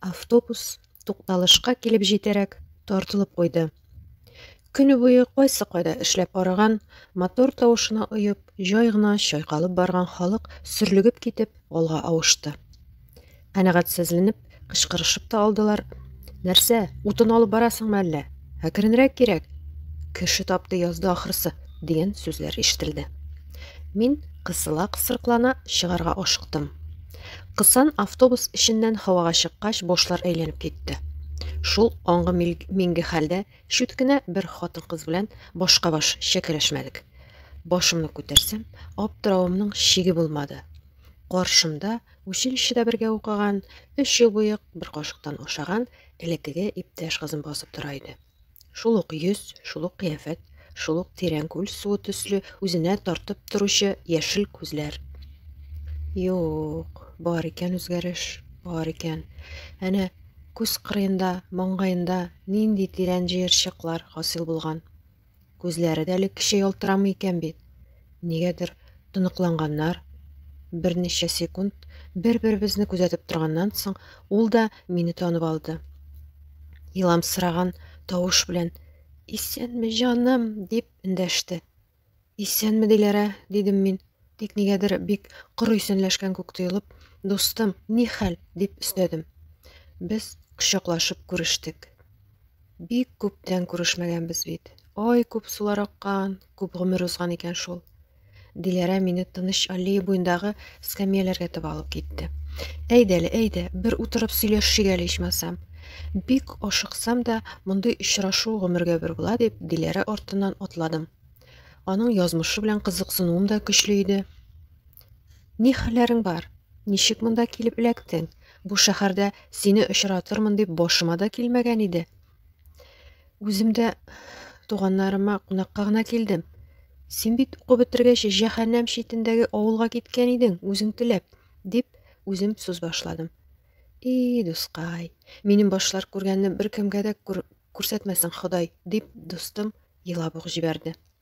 Автобус тукталышка килеп җитәрәк тартылып куйды. Көне буе кайсы кайда эшләп арыган, мотор тавышына оеп, җай гына чайкалып барган халык сөрлегеп китеп алга авышты. Канәгатьсезленеп, кычкырышып та алдылар. Нәрсә, утын алып барасыңмы әллә? Әкренрәк кирәк. Кеше тапты язды ахрысы, дигән сүзләр ишетелде. Мин кысыла-кысырыклана чыгарга ашыктым. Кысан автобус эченнән һавага чыккач, башлар әйләнеп китте. Шул аңгы минге хәлдә шүт кенә бер хатын-кыз белән башка баш чәкәләшмәдек. Башымны күтәрсәм, аптыравымның чиге булмады. Каршымда училищеда бергә укыган, өч ел буе бер кашыктан ашаган элеккеге иптәш кызым басып тора иде. Шул ук йөз, шул ук кыяфәт, шул ук тирән күл суы төсле үзенә тартып торучы яшел күзләр. Юк, бар икән үзгәреш, бар икән. Әнә күз кырыенда, маңгаенда нинди тирән җыерчыклар хасил булган. Күзләре дә элеккечә ялтырамый икән бит. Нигәдер тоныкланганнар. Берничә секунд бер-беребезне күзәтеп торганнан соң, ул да мине танып алды. Еламсыраган тавыш белән «Исәнме, җаным!» дип эндәште. «Исәнме, Диләрә!» дидем мин. Тик нигәдер бик коры исәнләшкән күк тоелып, «Дустым, ни хәл?» дип өстәдем. Без кочаклашып күрештек. Бик күптән күрешмәгәнбез бит. Ай, күп сулар аккан, күп гомер узган икән шул. Диләрә мине тыныч аллея буендагы скамьяләргә таба алып китте. Әйдә әле, әйдә, бер утырып сөйләшшик әле ичмасам. Бик ашыксам да, мондый очрашу гомергә бер була дип, Диләрә артыннан атладым. Аның язмышы белән кызыксынуым да көчле иде. Ни хәлләрең бар? Ничек монда килеп эләктең? Бу шәһәрдә сине очратырмын дип башыма да килмәгән иде. Үзем дә туганнарыма кунакка гына килдем. Син бит укып бетергәч җәһәннәм читендәге авылга киткән идең, үзең теләп, дип үзем сүз башладым. И, дускай, минем башлар күргәнне беркемгә дә күр күрсәтмәсен Ходай, дип дустым елап ук җибәрде.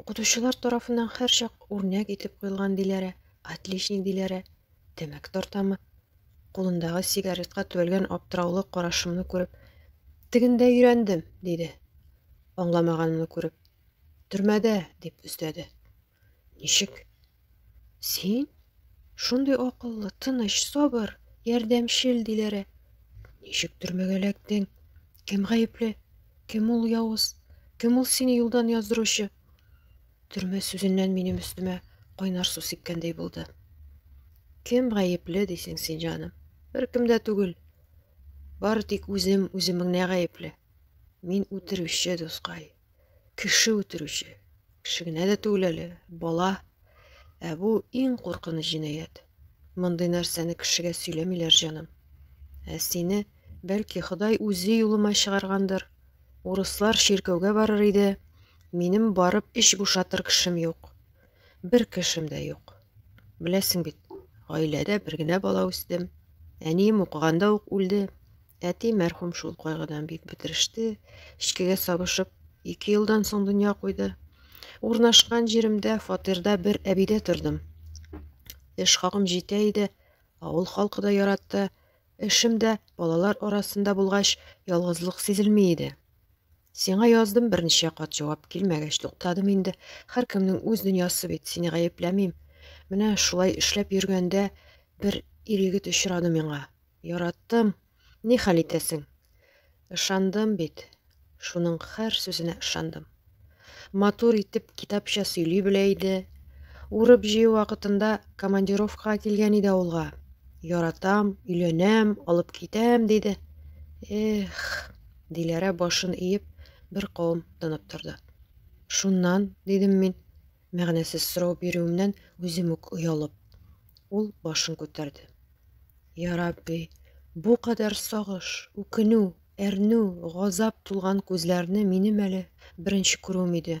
Укытучылар тарафыннан һәрчак үрнәк итеп куелган Диләрә, отличник Диләрә, тәмәке тартамы? Кулындагы сигаретка төбәлгән аптыраулы карашымны күреп, тегендә өйрәндем, диде. Аңламаганымны күреп, төрмәдә, дип өстәде. Ничек? Син? Шундый акыллы, тыныч, сабыр, ярдәмчел Диләрә. Ничек төрмәгә эләктең? Кем гаепле? Кем ул явыз? Кем ул сине юлдан яздыручы? Төрмә сүзеннән минем өстемә кайнар су сипкәндәй булды. Кем гаепле дисең син, җаным? Беркем дә түгел. Бары тик үзем, үземеңне гаепле. Мин үтерүче, дускай. Кеше үтерүче. Кеше генә дә түгел әле, бала. Ә бу иң куркыныч җинаять. Мондый нәрсәне кешегә сөйләмиләр, җаным. Ә сине, бәлки, Ходай үзе юлыма чыгаргандыр. Урыслар чиркәүгә барыр иде. Минем барып эч бушатыр кешем юк. Бер кешем дә юк. Беләсең бит, гаиләдә бер генә бала үстем. Әнием укыганда ук үлде. Әти мәрхүм шул кайгыдан бик бетереште, эчкегә сабышып, ике елдан соң дөнья куйды. Урнашкан җиремдә фатирда бер әбидә тордым. Эш хакым җитә иде, авыл халкы да яратты. Эшем дә балалар арасында булгач, ялгызлык сизелми иде. Сиңа яздым берничә кат җавап килмәгәч туктадым инде. Һәркемнең үз дөньясы бит, сине гаепләмим. Менә шулай эшләп йөргәндә бер ир егет очрады миңа. Яраттым. Ни хәл итәсең? Ышандым бит. Шуның һәр сүзенә ышандым. Матур итеп китапча сөйли белә иде. Урып җыю вакытында командировкага килгән иде авылга. Яратам, өйләнәм, алып китәм, диде. Эх, Диләрә башын иеп, бер кавым тынып торды. Шуннан, дидем мин, мәгънәсез сорау бирүемнән үзем үк оялып. Ул башын күтәрде. Я Рабби, бу кадәр сагыш, үкенү, әрнү, газап тулган күзләрне минем әле беренче күрүем иде.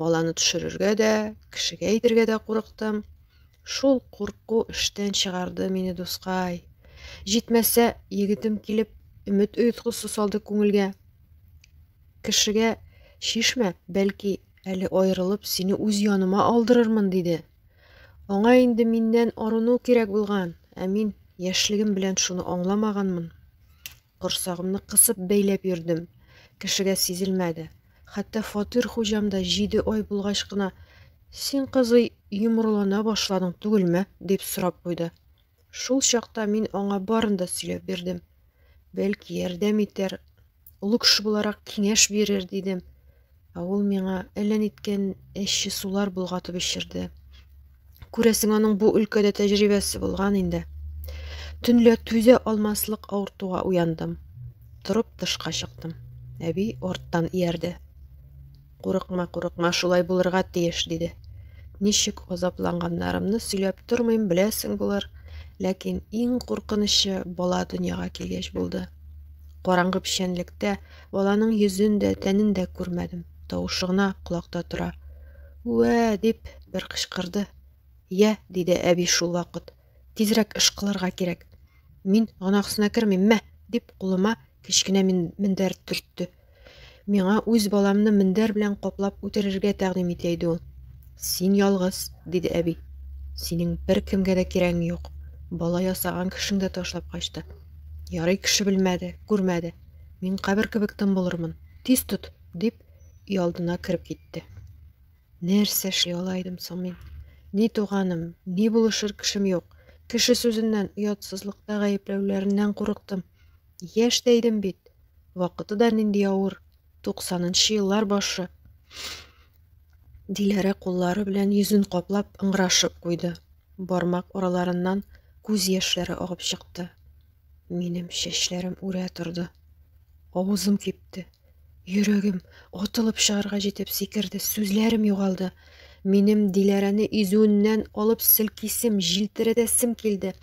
Баланы төшерергә дә, кешегә әйтергә дә курыктым. Шул курку эштән чыгарды мине, дускай. Җитмәсә, егетем килеп, өмет оеткысы салды күңелгә. Кешегә шишмә, бәлки, әле аерылып, сине үз яныма алдырырмын, диде. Аңа инде миннән арыну кирәк булган, ә мин яшьлегем белән шуны аңламаганмын. Корсагымны кысып бәйләп йөрдем. Кешегә сизелмәде. Хәтта фатир хуҗам да җиде ай булгач кына Син, кызый, йомрылана башладың түгелме? дип сорап куйды. Шул чакта мин аңа барын да сөйләп бирдем. Бәлки, ярдәм итәр, олы кеше буларак киңәш бирер, дидем. Ә ул миңа әллә ниткән әче сулар болгатып эчерде. Күрәсең, аның бу өлкәдә тәҗрибәсе булган инде. Төнлә түзә алмаслык авыртуга уяндым. Торып тышка чыктым. Әби арттан иярде. Курыкма, курыкма, шулай булырга тиеш, диде. Ничек азапланганнарымны сөйләп тормыйм, беләсең булыр. Ләкин иң куркынычы бала дөньяга килгәч булды. Караңгы печәнлектә Баланың йөзен дә, тәнен дә күрмәдем. Тавышы гына колакта тора. Үә! дип бер кычкырды. Йә, диде әби шул вакыт. Тизрәк эш кылырга кирәк. Мин гөнаһсына кермим, мә! дип кулыма кечкенә мендәр төртте. Миңа үз баламны мендәр белән каплап үтерергә тәкъдим итә иде ул. Син ялгыз, диде әби. Синең бер кемгә дә кирәгең юк. Бала ясаган кешең дә ташлап качты. Ярый кеше белмәде, күрмәде. Мин кабер кебек тын булырмын. Тиз тот, дип, өй алдына кереп китте. Нәрсә эшли ала идем соң мин? Ни туганым, ни булышыр кешем юк. Кеше сүзеннән, оятсызлыкта гаепләүләреннән курыктым. Яшь тә идем бит. Вакыты да нинди авыр. Туксанынчы еллар башы. Диләрә куллары белән йөзен каплап ыңгырашып куйды. Бармак араларыннан күз яшьләре агып чыкты. Минем чәчләрем үрә торды. Авызым кипте. Йөрәгем атылып чыгарга җитеп сикерде, сүзләрем югалды. Минем Диләрәне изүеннән алып селкисем, җилтерәтәсем килде.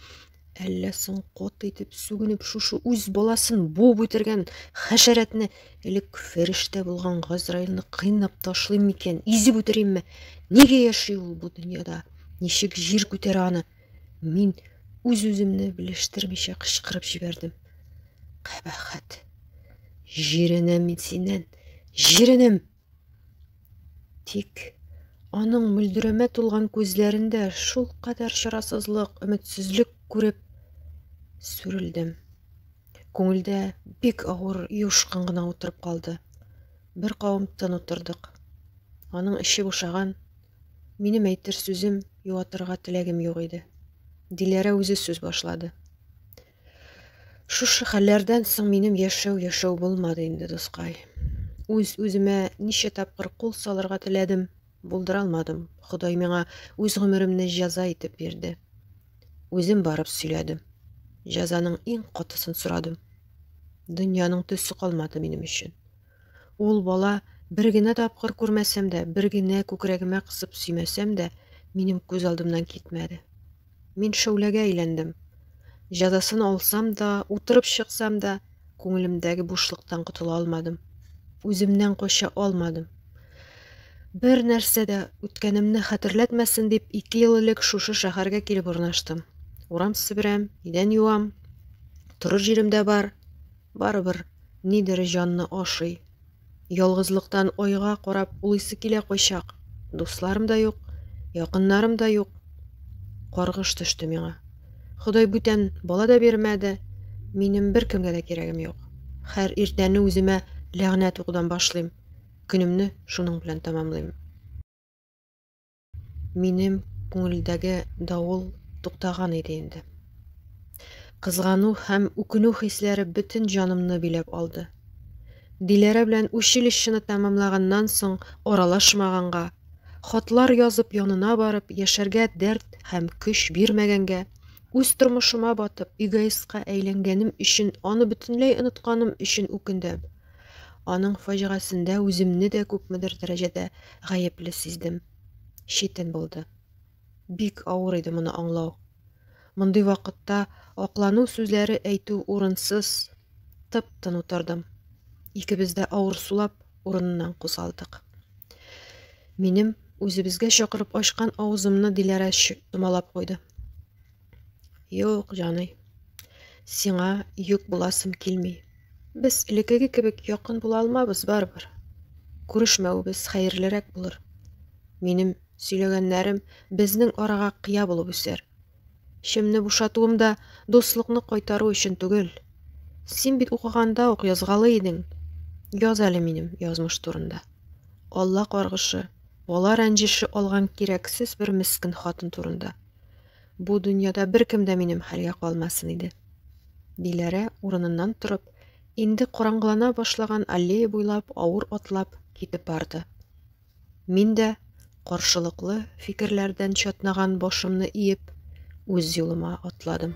Әллә соң кот итеп сүгенеп шушы үз баласын буып үтергән хәшәрәтне, элек фәрештә булган Газраилне кыйнап ташлыйм микән, изеп үтеримме? Нигә яши ул бу дөньяда? Ничек җир күтәрә аны? Мин үз-үземне белештермичә кычкырып җибәрдем. Кабахат. Җиренәм мин синнән. Җиренәм. Тик аның мөлдерәмә тулган күзләрендә шул кадәр чарасызлык, өметсезлек күреп сүрелдем. Күңелдә бик авыр юшкын гына утырып калды. Бер кавым тын утырдык. Аның эче бушаган, Минем әйтер сүзем, юатырга теләгем юк иде. Диләрә үзе сүз башлады. Шушы хәлләрдән соң минем яшәү яшәү булмады инде, дускай. Үз үземә ничә тапкыр кул салырга теләдем, булдыра алмадым. Ходай миңа үз гомеремне җәза итеп бирде. Үзем барып сөйләдем. Җәзаның иң катысын сорадым. Дөньяның төсе калмады минем өчен. Ул бала бер генә тапкыр күрмәсәм дә, бер генә күкрәгемә кысып сөймәсәм дә, минем күз алдымнан китмәде. Мин шәүләгә әйләндем. Җәзасын алсам да, утырып чыксам да, күңелемдәге бушлыктан котыла алмадым. Үземнән кача алмадым. Бер нәрсә дә үткәнемне хәтерләтмәсен дип, ике ел элек шушы шәһәргә килеп урнаштым. Урам себерәм, идән юам, торыр җирем дә бар. Барыбер нидер җанны ашый. Ялгызлыктан айга карап улыйсы килә кайчак. Дусларым да юк, якыннарым да юк. Каргыш төште миңа. Ходай бүтән бала да бирмәде. Минем бер кемгә дә кирәгем юк. Хәр иртәне үземә ләгънәт укудан башлыйм. Көнемне шуның белән тәмамлыйм. Минем күңелдәге давыл туктаган иде инде. Кызгану һәм үкенү хисләре бөтен җанымны биләп алды. Диләрә белән училищены тәмамлаганнан соң аралашмаганга, хатлар язып янына барып яшәргә дәрт һәм көч бирмәгәнгә, үз тормышыма батып эгоистка әйләнгәнем өчен аны бөтенләй онытканым өчен үкендем. Аның фаҗигасендә үземне дә күпмедер дәрәҗәдә гаепле сиздем. Читен булды. Бик авыр иде моны аңлау. Мондый вакытта аклану сүзләре әйтү урынсыз, тып-тын утырдым. Икебез дә авыр сулап урыннан кузгалдык. Минем үзебезгә чакырып ачкан авызымны Диләрә томалап куйды. Юк, җаный. Сиңа юк буласым килми. Без элекеге кебек якын була алмабыз барыбер. Күрешмәвебез хәерлерәк булыр. Минем сөйләгәннәрем безнең арага кыя булып үсәр. Шемне бушатуым да дуслыкны кайтару өчен түгел. Син бит укыганда ук язгалы идең. Яз әле минем язмыш турында. Алла каргышы, бала рәнҗеше алган кирәксез бер мескен хатын турында. Бу дөньяда беркем дә минем хәлгә калмасын иде. Диләрә урыныннан торып, инде караңгылана башлаган аллея буйлап авыр атлап китеп барды. Мин дә каршылыклы фикерләрдән чатнаган башымны иеп, үз юлыма атладым.